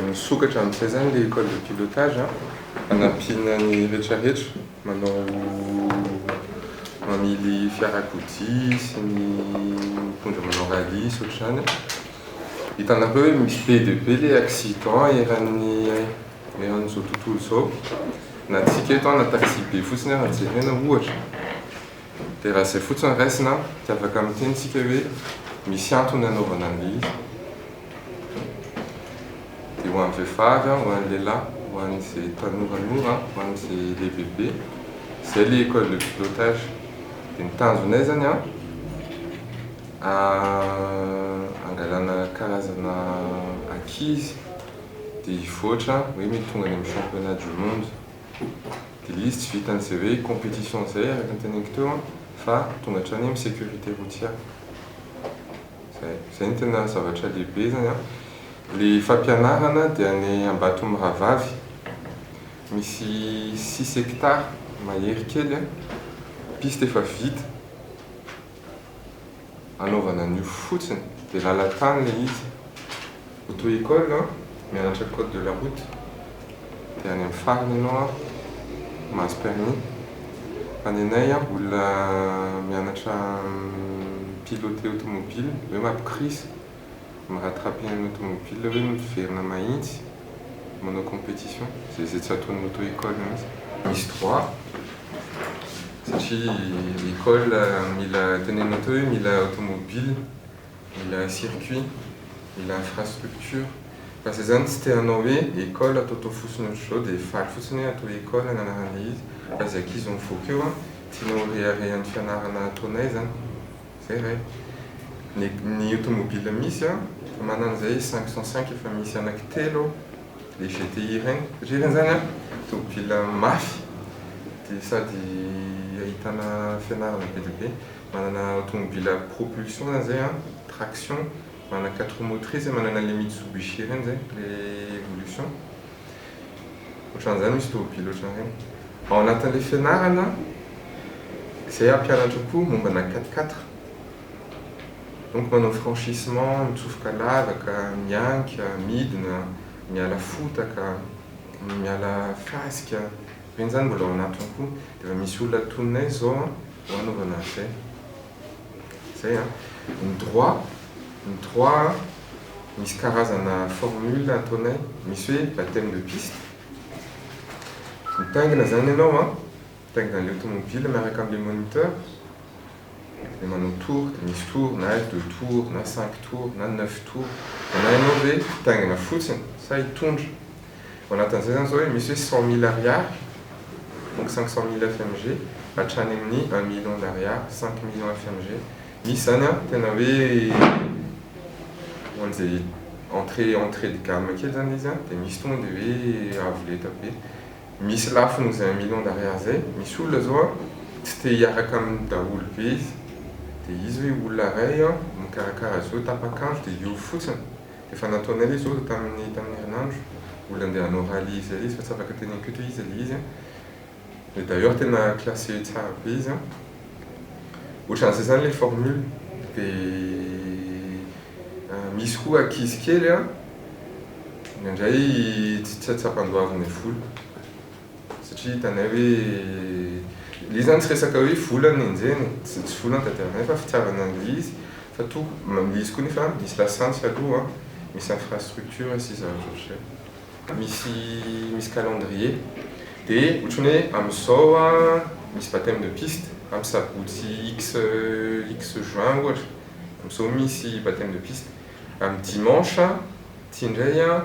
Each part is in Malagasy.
Misokatra amin'izay izany ilay école de pilotage an, hanampiana ny rehetra rehetra manao mamily fiarakodia sy ny mpitondra manao rallye sy ohatr'izany an, hitanareo hoe misy be dia be ilay accident eran'ny eran'izao tontolo izao, na antsika eto an na taxi be fotsiny ara jerena ohatra. Dia raha izay fotsiny no raisina an, dia afaka miteny isika hoe misy antony hanaovana an'ilay izy. Dia ho an'ny vehivavy an, ho an'ny lehilahy, ho an'izay tanoranora an, ho an'izay lehibebe, izay ilay école de pilotage. Dia ny tanjonay izany an, hangalana karazana ankizy dia hivoatra hoe mety tonga any amin'ny championnat du monde. Dia izy tsy vitan'izay hoe competition izay araka ny teneniko teo an, fa tonga hatrany amin'ny sécurité routière. Izay. Izay no tena zavatra lehibe izany an. Ilay fampianarana dia any Ambatomirahavavy, misy six hectares mahery kely an, piste efa vita. anaovana an'io fotsiny dia lalan-tany ilay izy, auto école an, mianatra code de la route dia any amin'ny farany ianao an mahazo permis, fa ny anay an olona mianatra mi-piloter automobile hoe mampikoriza. Ny rattrapena ny automobile hoe miverina mahintsy manao competition zay zay tsy ataon'ny auto école mihintsy. Misy droit satria école mila tenenina teo hoe mila automobile, mila circuit, mila infrastructure fa zay zany tsy te hanao hoe école atao tao fosiny ohatr'izao dia faly fotsiny hoe atao école ny anaran'ilay izy fa zay ankizy mivoaka eo an tiana ho reharehan'ny fianarana ataonay zany. Zay iray. Ny ny automobile misy an, fa manana izay cinq cent cinq efa misy anaky telo ao, le GTI ireny. Rirany zany an, tôbila mafy, dia sady ahitana fianarana be dia be. Manana automobile à propulsion zany zay an, traction, manana quatre roues motrices, manana le Mitsubishi ireny zay, le evolution. Ohatran'izay misy tôbily ohatran'izay. Ao anatin'ilay fianarana izay hampianatra koa mombana quatre quatre. Donc manao franchissement, mitsofoka lavaka, mianka, midina, miala fotaka, miala fasika. Ireny izany mbola ao anatiny koa. Dia efa misy olona tononay izao ho anaovana an'izay. Zay an! Ny droit, ny droit an, misy karazana formule ataonay, misy hoe bapteme de piste, mitaingina zany ianao an, mitaingina an'le automobile miaraka amin'le moniteur, de manao tour, de misy tour na deux tours na cinq tours na neuf tours, na ianao ve hitaingina fotsiny sa hitondra, Ao anatin'izay izany izao misy hoe cent mille ariary, donc cinq cent mille FMG, hatrany amin'ny un million d'ariary, cinq millions FMG. Misy izany an, tena hoe ohatran'izay entrée entrée de gamme kely izany ilay izy an, dia misy tonga dia hoe avo lenta be. Misy lafo noho izay un million d'ariary izay, misy olona izao an, tsy te hiaraka amin'ny daholo be izy, dia izy hoe olona iray an, mikarakara azy io, tapak'andro dia hiova fotsiny. Efa nataonay ilay zoro tamin'ny tamin'ny herinandro, mbola andeha hanao rallye izy ilay izy fa tsy afaka teny Ampiato izy ilay izy an! Et d'ailleurs tena classé tsara be izy an! Ohatran'izay izany ilay formule, dia misy koa ankizy kely an! indraindray tsy tsapandoavinay vola. Satria hitanay hoe le izy zany tsy resaka hoe vola no nenjehiny e, tsy tsy vola no tadiavinay fa fitiavana an'le izy fa to le izy koa nefa misy lasantsy aloha an, misy infrastructure sy zava ohatr'zay. Misy misy calendrier de otrany hoe am'zao an misy bapteme de piste am sabotsy X X juin ohatra, am'zao misy bapteme de piste, am dimanche ty ndray an,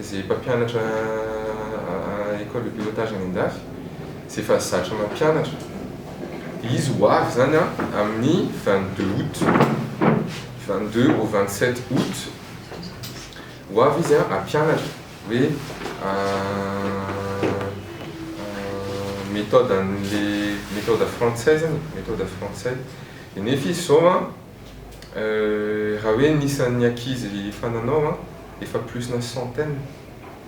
Izay mpampianatra Ecole de pilotage any an-dafy izay efa zatra mampianatra, dia izy ho avy izany amin'ny vingt deux aout, vingt deux au vingt sept aout, ho avy izy hampianatra hoe méthode an'ilay méthode français izany e, méthode français, dia nefa izy izao an. Euh raha hoe ny isan'ny ankizy efa nanao an, efa plus na centaine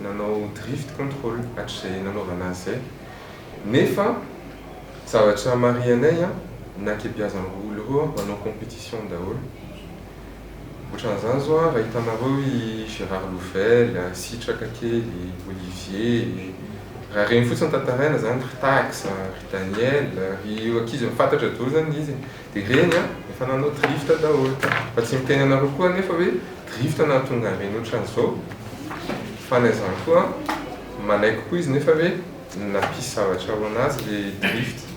nanao drift control hatrizay nanaovana azy zay. Nefa zavatra marihanay an, na kebeazan'ireo olona ireo an, manao competition daholo. Otran'izany zao an, raha hitanareo i Gérard Louvel, Sitraka kely, Olivier, raha ireny fotsiny tantaraina zany, ry Tax, ry Daniel, ry ankizy efa fantatra daholo zany ilay izy e. Dia ireny an, efa nanao drift daholo. Fa tsy miteny anareo koa anefa hoe drift nahatonga an'ireny ohatran'izao. Fa na izany koa an, manaiky koa izy nefa hoe nampisy zavatra ho an'azy ilay drift.